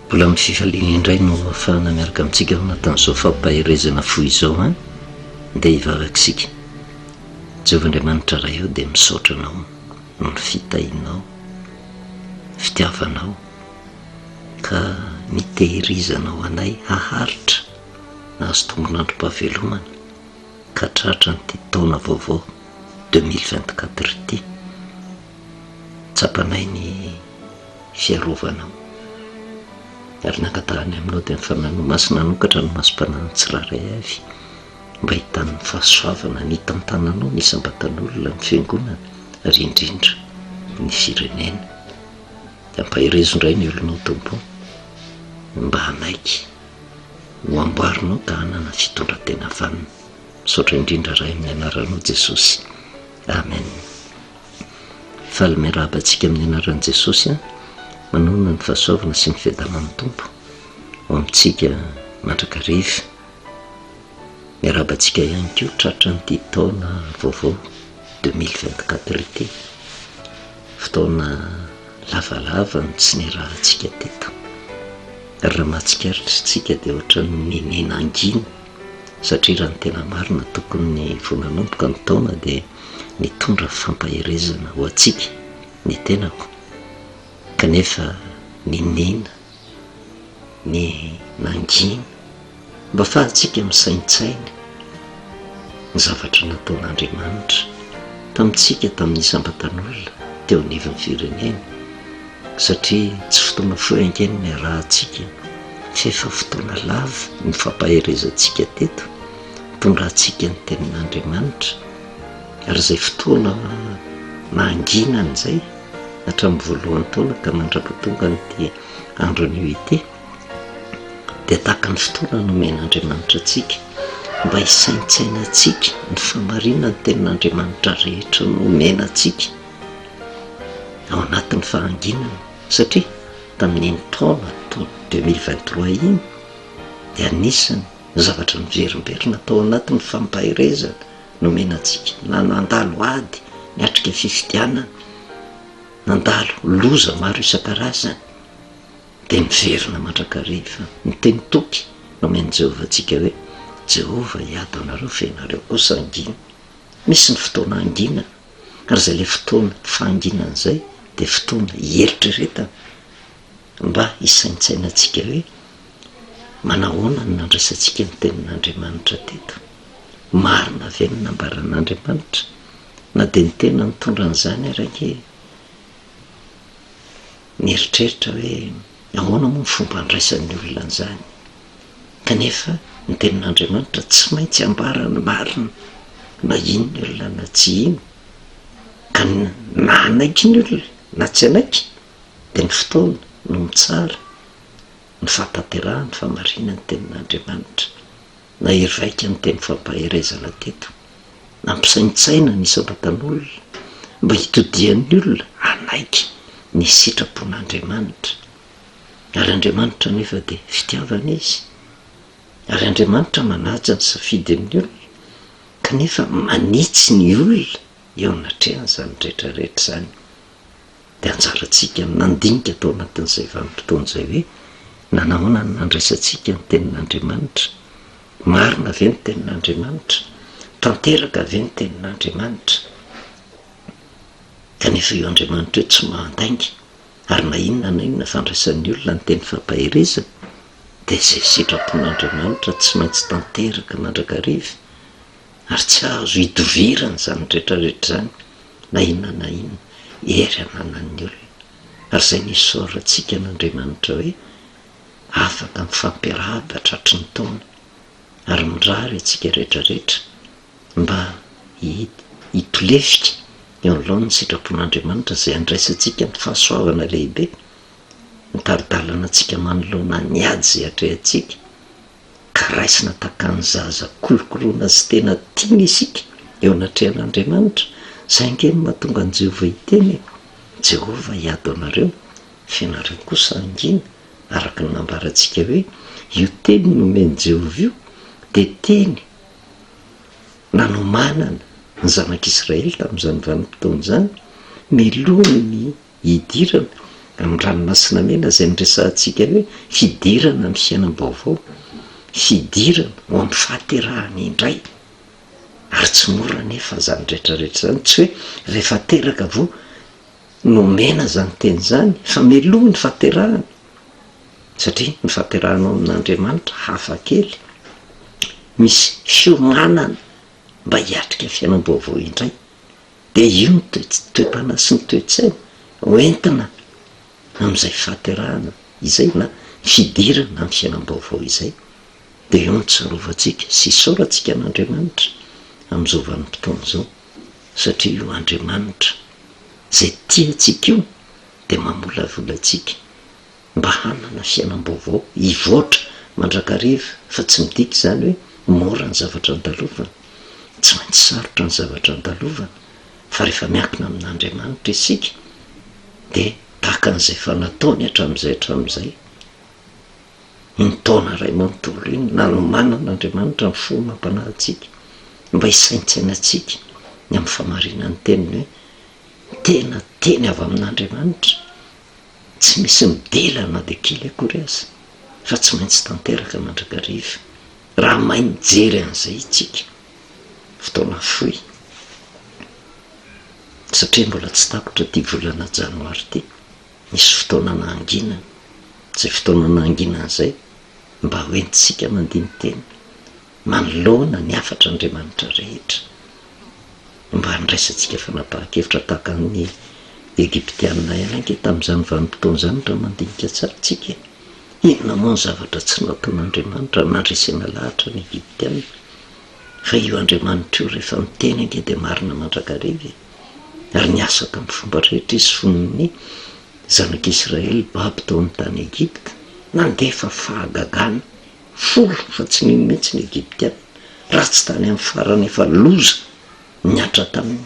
Mbola amin'ny fifaliana indray no afahana miaraka amintsika ao anatin'izao fampaherezana fo izao an dia hivavakisika Jehovah Andriamanitra Ray eo dia misaotra anao noho ny fitahinao fitiavanao ka nitehirizanao anay haharitra nahazo tombon'androm-pahavelomana ka tratran'ity taona vaovao deux mille vingt-quatre ity, tsapanay ny fiarovanao ary nangatahany aminao dia ny fananao masina hanokatra ny masom-panan'ny tsirairay avy mba hahitany ny fahasoavana ny hitantananao ny isam-batan'olona, ny fiangonana ary indrindra ny firenena. Ampaherezo indray ny olonao Tompo o, mba hanaiky. Ho amboarinao ka hanana fitondratena vanona. Misaotra indrindra Ray amin'ny anaranao Jesosy. Amen. Faly miarahaba antsika amin'ny anaran'i Jesosy a. Manohana ny fahasoavana sy ny fiadanan'ny Tompo ho amintsika mandrakariva. Miarahaba antsika ihany koa tratran'ity taona vaovao 2024 ity. Fotoana lavalava no tsy niarahantsika teto, ary raha mahatsikaritra isika dia ohatran'ny nenena hangina, satria raha ny tena marina tokony vao nanomboka ny taona dia nitondra fampaherezana ho antsika ny tenako, kanefa nenena. ny mangina mba afahantsika misaintsaina ny zavatra nataon'Andriamanitra tamintsika tamin'ny sambatanolona teo anivon'ny firenena satria tsy fotoana fohy ankehitriny ny arahantsika f'efa fotoana lava ny fampaherezantsika teto tondrahantsika ny tenin'Andriamanitra ary izay fotoana manginana izay hatramin'ny voalohan'ny taona ka mandrapa tonga an'ity andro anio ity dia tahaka ny fotoana nomen'Andriamanitra antsika mba hisaintsaina antsika ny famarina ny tenin'Andriamanitra rehetra nomena antsika ao anatin'ny fahanginana satria tamin'iny taona to deux mille vingt trois iny dia anisany zavatra miverimberina tao anatin'ny fampaherezana Nomena antsika na nandalo ady niatrika fifidianana, nandalo loza maro isan-karazany, dia miverina mandrakariva. Ny teny toky nomen'i Jehovah antsika hoe, Jehovah hiady aminareo fa ianareo kosa hangina. Misy ny fotoana hanginana, ary izay ilay fotoana fahanginana izay dia fotoana hieritreretana Mba hisaintsainantsika hoe manahoana no nandraisantsika ny Tenin'Andriamanitra teto. Marina ve ny nambaran'Andriamanitra? Na dia ny tena nitondra an'izany ary ange nieritreritra hoe ahoana moa ny fomba handraisan'ny olona an'izany. Kanefa ny Tenin'Andriamanitra tsy maintsy hambara ny marina na iny ny olona na tsy iny. Ka na hanaiky ny olona na tsy hanaiky dia ny fotoana no mitsara ny fahatanterahan'ny fahamarinan'ny Tenin'Andriamanitra. Nahery vaika ny teny fampaherezana teto. Nampisaintsaina ny isam-batan'olona mba hitodihan'ny olona hanaiky ny sitrapon'Andriamanitra. Ary Andriamanitra anefa dia fitiavana Izy. Ary Andriamanitra manaja ny safidin'ny olona, kanefa manitsy ny olona eo anatrehany izany rehetra rehetra izany. Dia anjarantsika ny mandinika tao anatin'izay vanim-potoana izay hoe, nanahoana no nandraisantsika ny Tenin'Andriamanitra? Marina ve ny Tenin'Andriamanitra? Tanteraka ve ny Tenin'Andriamanitra? Kanefa io Andriamanitra io tsy mahandainga, ary na inona na inona fandraisan'ny olona ny teny fampaherezana, dia izay sitrapon'Andriamanitra tsy maintsy tanteraka mandrakariva, ary tsy azo hidovirana izany rehetra rehetra izany. na inona na inona hery ananan'ny olona, ary izay nisaorantsika an'Andriamanitra hoe afaka mifampiarahaba tratry ny taona, ary mirary antsika rehetra rehetra mba hitolefika eo an'laon'ny sitrapon'Andriamanitra izay handraisantsika ny fahasoavana lehibe, mitari-dalana antsika manoloana ny ady izay atrehantsika. ka raisina takan'ny zaza kolokoloina sy tena tiana isika eo anatrehan'Andriamanitra, saingy eny mahatonga an'i Jehovah hiteny hoe, Jehovah hiady ho anareo, fa ianareo kosa hangina, araka ny nambarantsika hoe, io teny nomen'i Jehovah io dia teny nanomanana ny zanak'Israely tamin'izany vanim-potoana izany, melohiny ny hidirana amin'ny ranomasina mena izay niresahantsika hoe fidirana amin'ny fiainam-baovao, fidirana ho amin'ny fahaterahana indray. Ary tsy mora anefa izany rehetrarehetra izany, tsy hoe rehefa teraka vao nomena izany teny izany, fa mialoha ny fahaterahana, satria ny fahaterahana ao amin'Andriamanitra hafa kely, misy fiomanana mba hiatrika fiainam-baovao indray. Dia io ny toe-panahy sy ny toe-tsaina ho entina amin'izay fahaterahana izay na fidirana amin'ny fiainam-baovao izay. Dia eo no tsarovantsika sy isaorantsika an'Andriamanitra amin'izao vanim-potoana izao satria io Andriamanitra izay tia antsika io dia mamolavola antsika. mba hanana fiainam-baovao hivoatra mandrakariva fa tsy midika izany hoe mora ny zavatra andalovana. Tsy maintsy sarotra ny zavatra andalovana fa rehefa miankina amin'Andriamanitra isika dia tahaka an'izay efa nataony hatramin'izay hatramin'izay iny taona iray manontolo iny nanomanana Andriamanitra ny fo mampanahy antsika mba hisaintsainantsika ny amin'ny famarinan'ny teniny hoe tena teny avy amin'Andriamanitra Tsy misy midila na dia kely akory aza fa tsy maintsy tanteraka mandrakariva raha mahay mijery an'izay itsika. Fotoana fohy satria mbola tsy tapitra ity volana janoary ity, misy fotoana nahanginana, izay fotoana nahanginana izay mba hoentintsika mandini-tena Manoloana ny hafatr'Andriamanitra rehetra, mba handraisantsika fanapahan-kevitra tahaka ny Egyptianina ihany ange tamin'izany vanim-potoana izany, raha mandinika tsara isika. Inona moa ny zavatra tsy nataon'Andriamanitra nandresena lahatra ny Egyptianina? Fa io Andriamanitra io, rehefa miteny ange dia marina mandrakariva e! Ary niasa tamin'ny fomba rehetra Izy fony ny Zanak'Israely babo tao amin'ny tany Egypta. Nandefa fahagagana. Folo fa tsy nino mihitsy ny Egyptiana raha tsy tany amin'ny farany efa loza nihatra taminy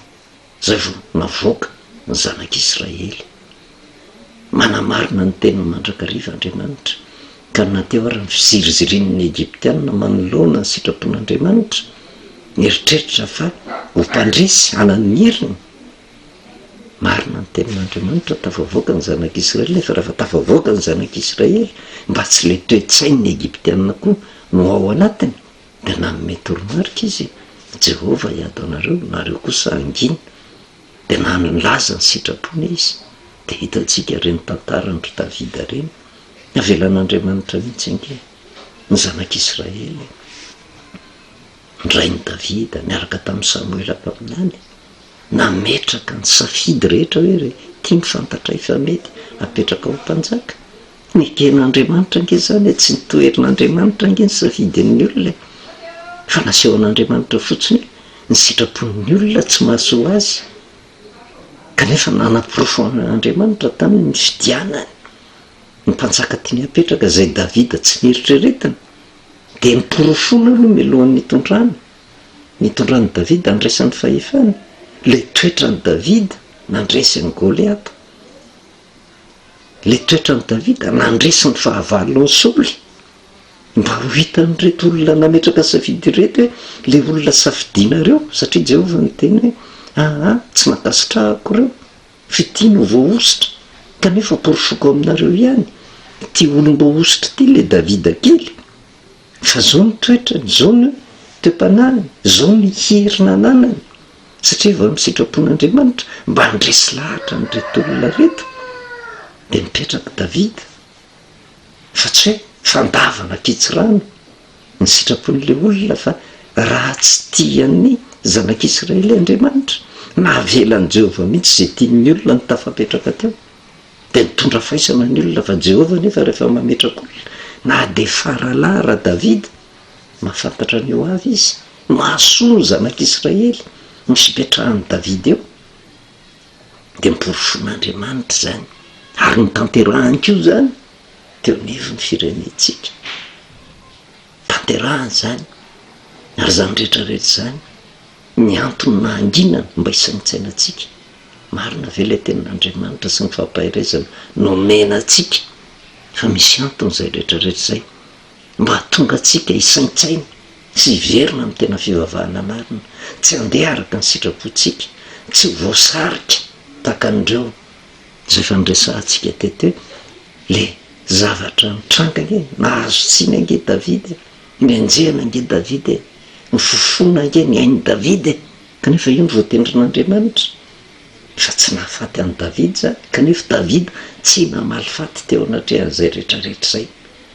izay vao navoaka ny zanak'Israely. Manamarina ny teniny mandrakariva Andriamanitra ka na teo ary ny fizirizirin'ny Egyptiana manoloana ny sitrapon'Andriamanitra, nieritreritra fa ho mpandresy hanana ny heriny, Marina ny tenin'Andriamanitra, tafavoaka ny zanak'Israely, nefa rehefa tafavoaka ny zanak'Israely, mba tsy ilay toe-tsain'ny Egyptiana koa no ao anatiny, dia nanome toromarika Izy, Jehovah hiady ho anareo, nareo kosa hangina. Dia nanilaza ny sitrapony Izy. Dia hitantsika ireny tantaran-dry Davida ireny. Avelan'Andriamanitra mihitsy ange ny zanak'Israely. ny rain'i Davida niaraka tamin'i Samoela mpaminany, nametraka ny safidy rehetra hoe, Re, ity no fantatray fa mety hapetraka ho mpanjaka. Neken'Andriamanitra ange izany e! Tsy notoherin'Andriamanitra ange ny safidin'ny olona e! Fa nasehon'Andriamanitra fotsiny hoe ny sitrapon'ny olona tsy mahasoa azy, kanefa nanaporofo an'Andriamanitra taminy ny fidianany ny mpanjaka tiany hapetraka, izay Davida tsy neritreretina. Dia noporofoina aloha mialohan'ny nitondrany, nitondran'i Davida nandresiny fahefany, ilay toetran'i Davida nandresy an'i Goliata. Ilay toetran'i Davida nandresy ny fahavalon'i Saoly. Mba ho hitan'ireto olona nametraka safidy ireto hoe ilay olona safidianareo, satria Jehovah niteny hoe, Aa, tsy nankasitrahako ireo. Fitia no voahosotra kanefa porofoko aminareo ihany ity olom-boahosotra ity le David kely fa zao ny toetrany, zao ny toe-panahiny, zao ny heriny ananany satria efa amin'ny sitrapon'Andriamanitra mba handresy lahatra an'ireto olona reto dia mipetraka David satria fandavana kitsirano ny sitrapon'ilay olona fa raha tsy tia ny zanak'Israely Andriamanitra, nahavela an'i Jehovah mihitsy izay tian'ny olona no tafapetraka teo. Dia nitondra faisana ny olona fa Jehovah anefa rehefa mametraka olona, na dia faralahy raha Davida, mahafantatra ny ho avy izy, mahasoa ny zanak'Israely no hipetrahan'i Davida eo. de noporofoin'Andriamanitra izany ary notanterahany koa izany teo anivon'ny firenentsika, tanterahany izany ary izany rehetra rehetra izany ny antony nahanginana mba hisaintsainantsika, marina ve ilay tenin'Andriamanitra sy ny fampaherezana nomena antsika fa misy antony izay rehetra rehetra izay mba hahatonga antsika hisaintsaina sy hiverina amin'ny tena fivavahana marina, tsy handeha araka ny sitrapontsika, tsy ho voasarika tahaka an'ireo izay efa noresahantsika teto hoe ilay zavatra nitranga ange, nahazo tsiny ange David e, nianjehana ange David e, nifofona ange ny ain'i David e, kanefa io no voatendrin'Andriamanitra fa tsy nahafaty an'i David izany, kanefa David tsy namaly faty teo anatrehan'izay rehetra rehetra izay.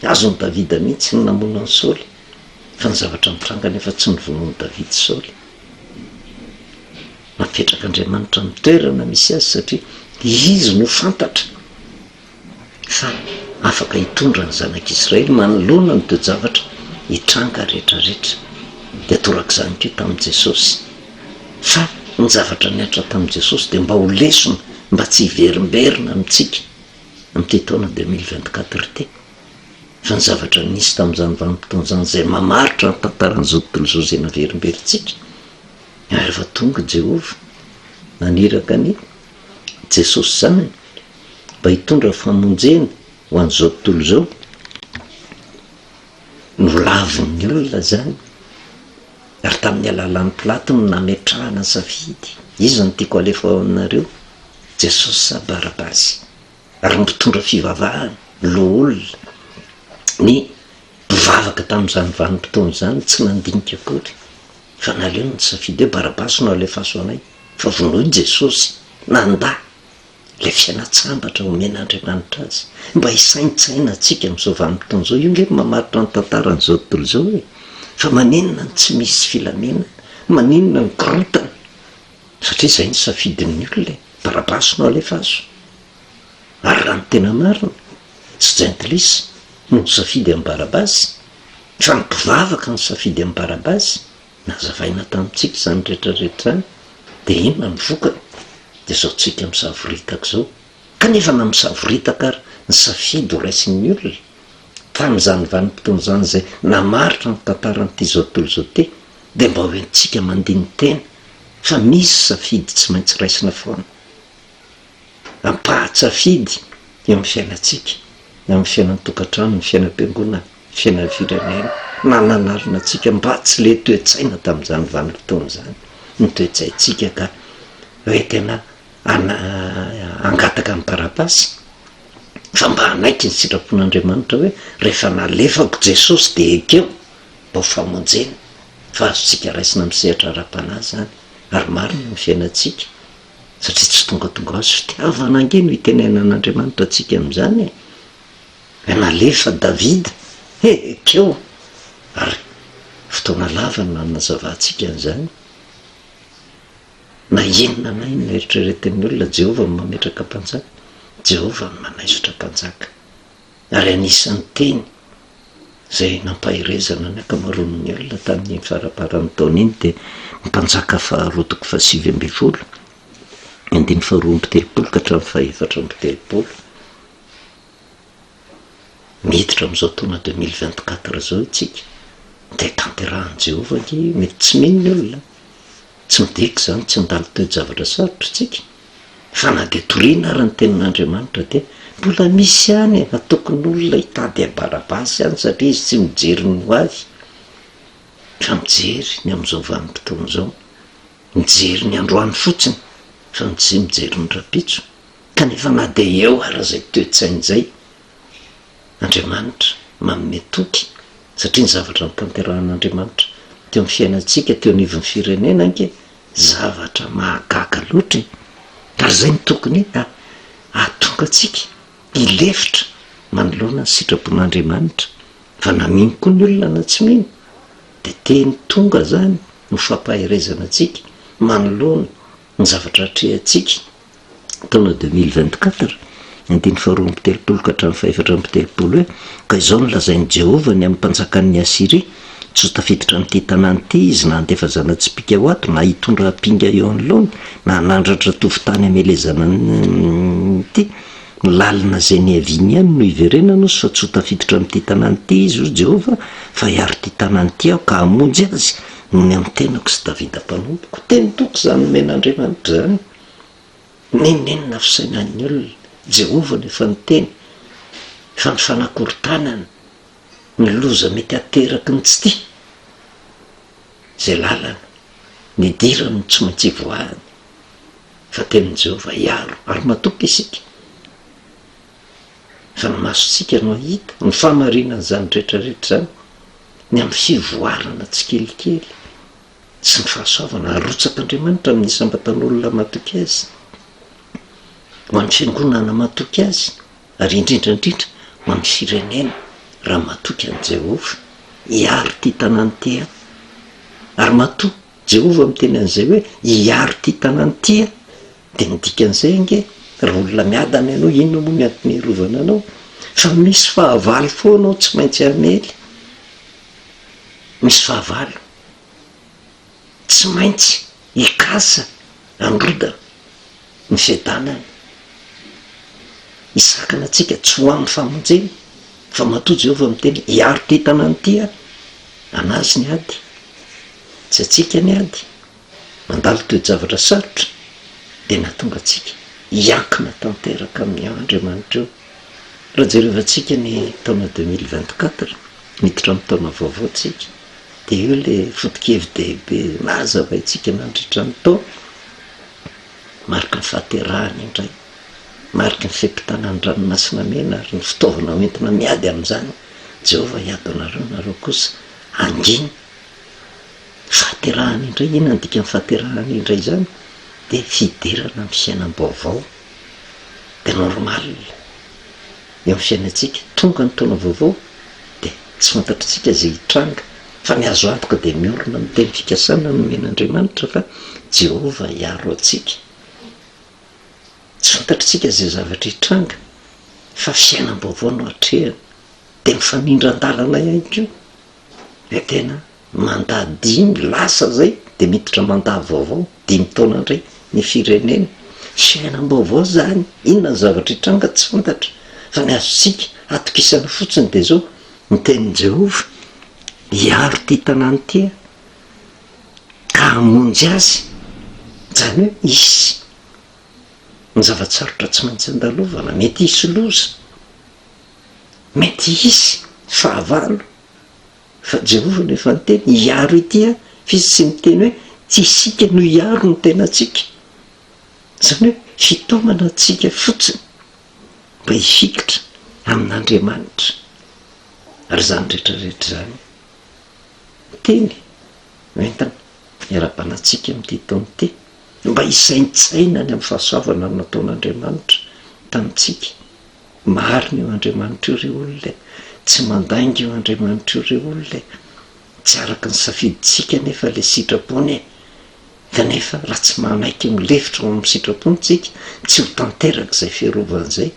Azon'i Davida mihitsy ny namono an'i Saoly, fa ny zavatra nitranga anefa tsy novonoin'i Davida Saoly. Napetrak'Andriamanitra ny toerana misy azy satria izy no fantatra fa afaka hitondra ny zanak'Israely manoloana ny toe-javatra hitranga rehetrarehetra. Dia torak'izany koa tamin'i Jesosy. Fa ny zavatra nihatra tamin'i Jesosy dia mba ho lesona mba tsy hiverimberina amintsika amin'ity taona deux mille vingt quatre ity, fa ny zavatra nisy tamin'izany vanim-potoana izany izay mamaritra ny tantaran'izao tontolo izao izay naverimberintsika, ary efa tonga i Jehovah naniraka an'i Jesosy Zanany mba hitondra famonjena ho an'izao tontolo izao. Nolavin'ny olona izany Ary tamin'ny alalan'i Pilato no nametrahana ny safidy, Iza no tiako halefy ao aminareo? Jesosy sa Barabasy? Ary ny mpitondra fivavahana, loholona, ny mpivavaka tamin'izany vanim-potoana izany tsy nandinika akory fa naleony nisafidy hoe, Barabasy no alefaso anay, fa vonoy Jesosy, nandà! Ilay fialan-tsambatra omen'Andriamanitra azy. Mba hisaintsainantsika amin'izao vanim-potoana izao. Io ange no mamaritra ny tantaran'izao tontolo izao e! Fa maninona no tsy misy filaminana? Maninona no korontana? Satria izay no safidin'ny olona e! Barabasy no alefaso. Ary raha ny tena marina, tsy jentilisa no nisafidy an'i Barabasy, fa ny mpivavaka no nisafidy an'i Barabasy. Nazavaina tamintsika izany rehetra rehetra izany, dia inona ny vokany? Dia izao tsika misavoritaka izao. Kanefa na misavoritaka ary, ny safidy ho raisin'ny olona, tamin'izany vanim-potoana izany izay namaritra ny tantaran'ity izao tontolo izao ity, dia mba ho entintsika mandini-tena fa misy safidy tsy maintsy raisina foana. Ampahan-tsafidy eo amin'ny fiainantsika, eo amin'ny fiainan'ny tokantrano, ny fiainam-piangonana. fiainam-pirenena na nanarina antsika mba tsy le toe-tsaina tamin'izany vanim-potoana izany ny toe-tsaintsika ka hoe tena hangataka ny taratasy fa mba hanaiky ny sitrapon'Andriamanitra hoe rehefa nalefako Jesosy dia ekeo mba ho famonjena fa azontsika raisina amin'ny sehatra ara-panahy izany ary marina ny fiainantsika satria tsy tongatonga ho azy fitiavana ange no itenenan'Andriamanitra antsika amin'izany e! Nalefa Davida hekeo ary fotoana lava no hanazavantsika an'izany. Na inona na inona eritreretin'ny olona, Jehovah no mametraka mpanjaka, Jehovah no manaisotra mpanjaka. Ary anisan'ny teny izay nampaherezana ny ankamaroan'ny olona tamin'iny faramparan'ny taona iny dia ny mpanjaka faharoa toko fahasivy ambin'ny folo, ny andininy faharoa amby telopolo ka hatramin'ny fahefatra amby telopolo. Miditra amin'izao taona deux mille vingt quatre izao isika, dia tanterahin'i Jehovah ange. Mety tsy mino ny olona. Tsy midika izany tsy handalo toe-javatra sarotra isika, fa na dia toriana àry ny Tenin'Andriamanitra, dia mbola misy ihany hatokin'olona hitady an'i Barabasy ihany, satria izy tsy mijery ny ho avy, fa mijery ny amin'izao vanim-potoana izao. Mijery ny androany fotsiny, fa tsy mijery ny rahampitso. Kanefa na dia eo ary izay toe-tsaina izay, Andriamanitra manome toky satria ny zavatra notanterahin'Andriamanitra teo amin'ny fiainantsika teo anivon'ny firenena ange zavatra mahagaga loatra e! Ary izay no tokony hahatonga antsika hilefitra manoloana ny sitrapon'Andriamanitra fa na mino koa ny olona na tsy mino dia teny tonga izany no fampaherezana antsika manoloana Ny zavatra atrehantsika, taona deux mille vingt quatre, andininy faharoa amby telopolo ka hatramin'ny fahefatra amby telopolo hoe, Ka izao no lazain'i Jehovah ny amin'ny mpanjakan'ny Asyria, Tsy ho tafiditra amin'ity tanàna ity izy na handefa zana-tsipìka ho ato, na hitondra ampinga eo anoloany, na hanandratra tofontany hamelezana an'ity lalina izay niaviany ihany no hiverenany ozy, fa tsy ho tafiditra amin'ity tanàna ity izy, hoy Jehovah, fa hiaro ity tanàna ity aho, ka hamonjy azy, noho ny amin'ny tenako sy Davida mpanompoko. Teny toky izany nomen'Andriamanitra izany. Nenenina ny fisainan'ny olona. Jehovah no efa niteny fa ny fanakorontanana, ny loza mety ateraky ny tsy tia izay lalana nidirany no tsy maintsy hivoahany. Fa tenin'i Jehovah hiaro ary matoky isika. Amin'ny masontsika no hahita ny fahamarinan'izany rehetrarehetra izany, ny amin'ny fivoarana tsikelikely sy ny fahasoavana arotsak'Andriamanitra amin'ny isam-batan'olona matoky Azy, ho an'ny fiangonana matoky Azy, ary indrindra indrindra ho an'ny firenena raha matoky an'i Jehovah. Hiaro ity tanàna ity aho. Ary matoa Jehovah miteny an'izay hoe hiaro ity tanàna ity aho, Dia ny dikan'izay ange, raha olona miadana ianao, inona moa ny antony hiarovana anao? Fa misy fahavalo foana ao tsy maintsy hamely. Misy fahavalo. Tsy maintsy hikasa handrodana ny fiadanana. Hisakana antsika tsy ho amin'ny famonjena. Fa matoa Jehovah miteny hoe, Hiaro ty tanàna ity Aho. An'Azy ny ady. Tsy antsika ny ady. Mandalo toe-javatra sarotra dia nahatonga antsika hiankina tanteraka amin'ny Andriamanitra eo. Raha jerevantsika ny taona deux mille vingt quatre, miditra amin'ny taona vaovao tsika, dia eo ilay foto-kevi-dehibe nahazavaintsika nandritra ny taona, mariky ny fahaterahana indray, mariky ny fe-potana ny ranomasina mena ary ny fitaovana hoentina miady amin'izany, Jehovah hiady ho anareo, nareo kosa hangina. Fahaterahana indray, inona ny dikan'ny fahaterahana indray zany? de fiderana amin'ny fiainam-baovao, de normal eo amin'ny fiainantsika, tonga ny taona vaovao de tsy fantatritsika ze hitranga fa ny azo antoka de miorina amin'ny teny fikasana nomen'Andriamanitra fa Jehovah hiaro antsika, tsy fantatritsika ze zavatra hitranga fa fiainam-baovao no atrehina, de mifamindra an-dalana ihany koa le tena mandat dimy lasa izay dia miditra mandat vaovao dimy taona indray ny firenena, fiainam-baovao izany, inona ny zavatra hitranga tsy fantatra fa ny azontsika atokisana fotsiny dia izao, ny tenin'i Jehovah hiaro ity tanàna ity aho ka hamonjy azy, izany hoe hisy ny zava-tsarotra tsy maintsy andalovana, mety hisy loza, mety hisy fahavalo. Fa Jehovah no efa niteny hiaro ity an! Fa izy tsy miteny hoe tsy isika no hiaro ny tenantsika. Izany hoe fitaomana antsika fotsiny mba hifikitra amin'Andriamanitra. Ary izany rehetra rehetra izany no teny hoentina hiarahabana antsika amin'ity taona ity, mba hisaintsaina ny amin'ny fahasoavana nataon'Andriamanitra tamintsika Marina io Andriamanitra io ry olona e! Tsy mandainga io Andriamanitra io ry olona e! Tsy araka ny safidintsika anefa ilay sitrapony e! Kanefa raha tsy manaiky milefitra ho amin'ny sitrapony tsika, tsy ho tanteraka izay fiarovany izay.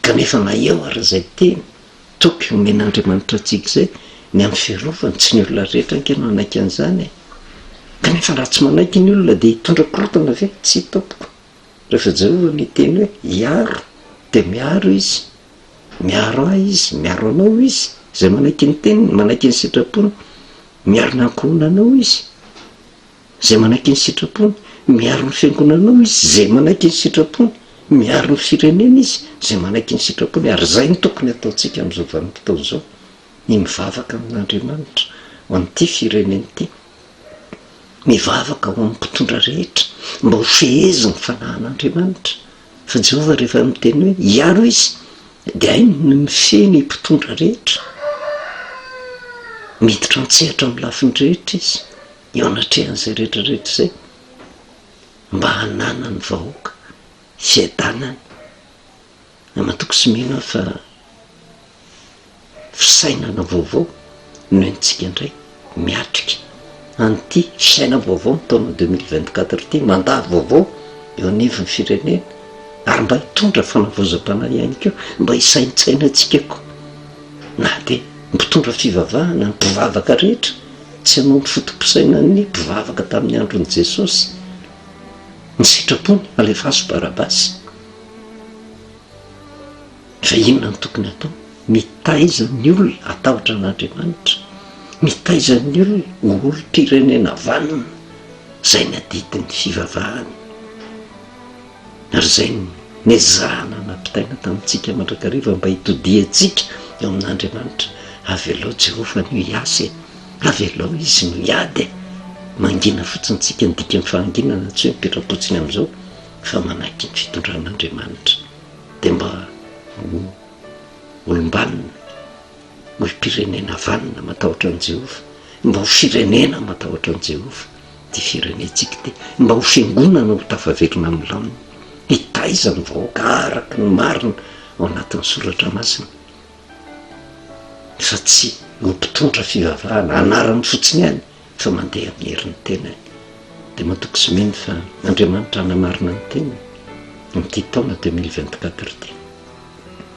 Kanefa na eo ary izay teny toky omen'Andriamanitra antsika izay, ny amin'ny fiarovany, tsy ny olona rehetra ange no hanaiky an'izany e! Kanefa raha tsy manaiky ny olona dia hitondra korotana ve? Tsia tompoko! Rehefa izay hono ny teny hoe hiaro dia miaro izy, miaro ahy izy, miaro anao izy, izay manaiky ny teniny, manaiky ny sitrapony, miaro ny ankohonanao izy, izay manaiky ny sitrapony, miaro ny fiangonanao izy, izay manaiky ny sitrapony, miaro ny firenena izy, izay manaiky ny sitrapony, ary izay no tokony hataontsika amin'izao vanim-potoana izao, ny mivavaka amin'Andriamanitra ho an'ity firenena ity. Mivavaka ho an'ny mpitondra rehetra mba ho fehezin'ny fanahin'Andriamanitra, fa Jehovah rehefa miteny hoe hiaro Izy dia hainy ny mifehy ny mpitondra rehetra. Miditra an-tsehatra amin'ny lafiny rehetra Izy eo anatrehan'izay rehetrarehetra izay mba hananan'ny vahoaka fiadanana. Namatoky sy mino aho fa fisainana vaovao no entintsika indray miatrika an'ity fisainana vaovao ny taona deux mille vingt quatre ity, mandat vaovao eo anivon'ny firenena ary mba hitondra fanavaozam-panahy ihany koa mba hisaintsaina antsika koa na dia mpitondra fivavahana ny mpivavaka rehetra tsy hanao ny foto-pisainan'ny mpivavaka tamin'ny andron'i Jesosy ny sitrapony alefaso Barabasy. Fa inona no tokony atao? Mitaiza ny olona hatahotra an'Andriamanitra, mitaiza ny olona ho olom-pirenena vanona izay nadidin'ny fivavahany ary izay nezahana nampitaina tamintsika mandrakariva mba hitodihantsika eo amin'Andriamanitra. Avelao Jehovah ny ho hiasa e! Avelao izy ny ho hiady e! Mangina fotsiny isika ny dikan'ny fahanginana, tsy hoe mipetram-potsiny amin'izao. fa manaiky ny fitondran'Andriamanitra dia mba ho olom-banona, ho mpirenena vanona matahotra an'i Jehovah, mba ho firenena matahotra an'i Jehovah ity firenentsika ity, mba ho fiangonana ho tafaverina amin'ny lamina, hitaiza ny vahoaka araka ny marina ao anatin'ny Soratra Masina, fa tsy ho mpitondra fivavahana anarany fotsiny ihany. fa mandeha amin'ny herin'ny tenany dia matoky sy mino fa Andriamanitra hanamarina ny tenany amin'ity taona deux mille vingt quatre ity.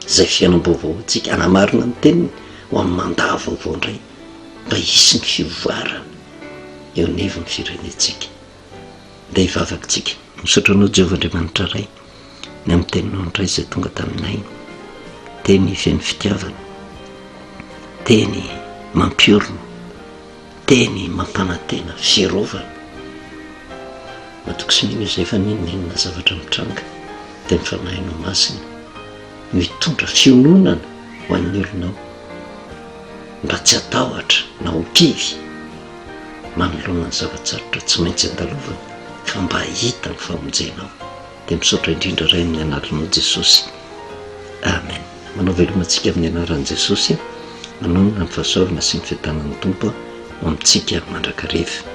Izay fiainam-baovao ho antsika, hanamarina ny teniny ho amin'ny mandat vaovao indray mba hisy ny fivoarana eo anivon'ny firenentsika. dia hivavaka tsika misaotra anao Jehovah Andriamanitra Ray ny amin'ny teninao indray izay tonga taminay teny feno fitiavana teny mampiorina teny mampanantena fiarovana matoky sy mino izay fa ninonenina zavatra mitranga dia ny fanahinao masina mitondra fiononana ho an'ny olonao mba tsy atahotra na ho kivy manoloana ny zava-tsarotra tsy maintsy andalovany ka mba hahita ny famonjena aho. Dia misaotra indrindra Ray amin'ny Anaranao Jesosy. Amen. Manao veloma antsika amin'ny Anaran'i Jesosy a. Manonona ny fahasoavana sy ny fiadanan'ny Tompo ho amintsika mandrakariva.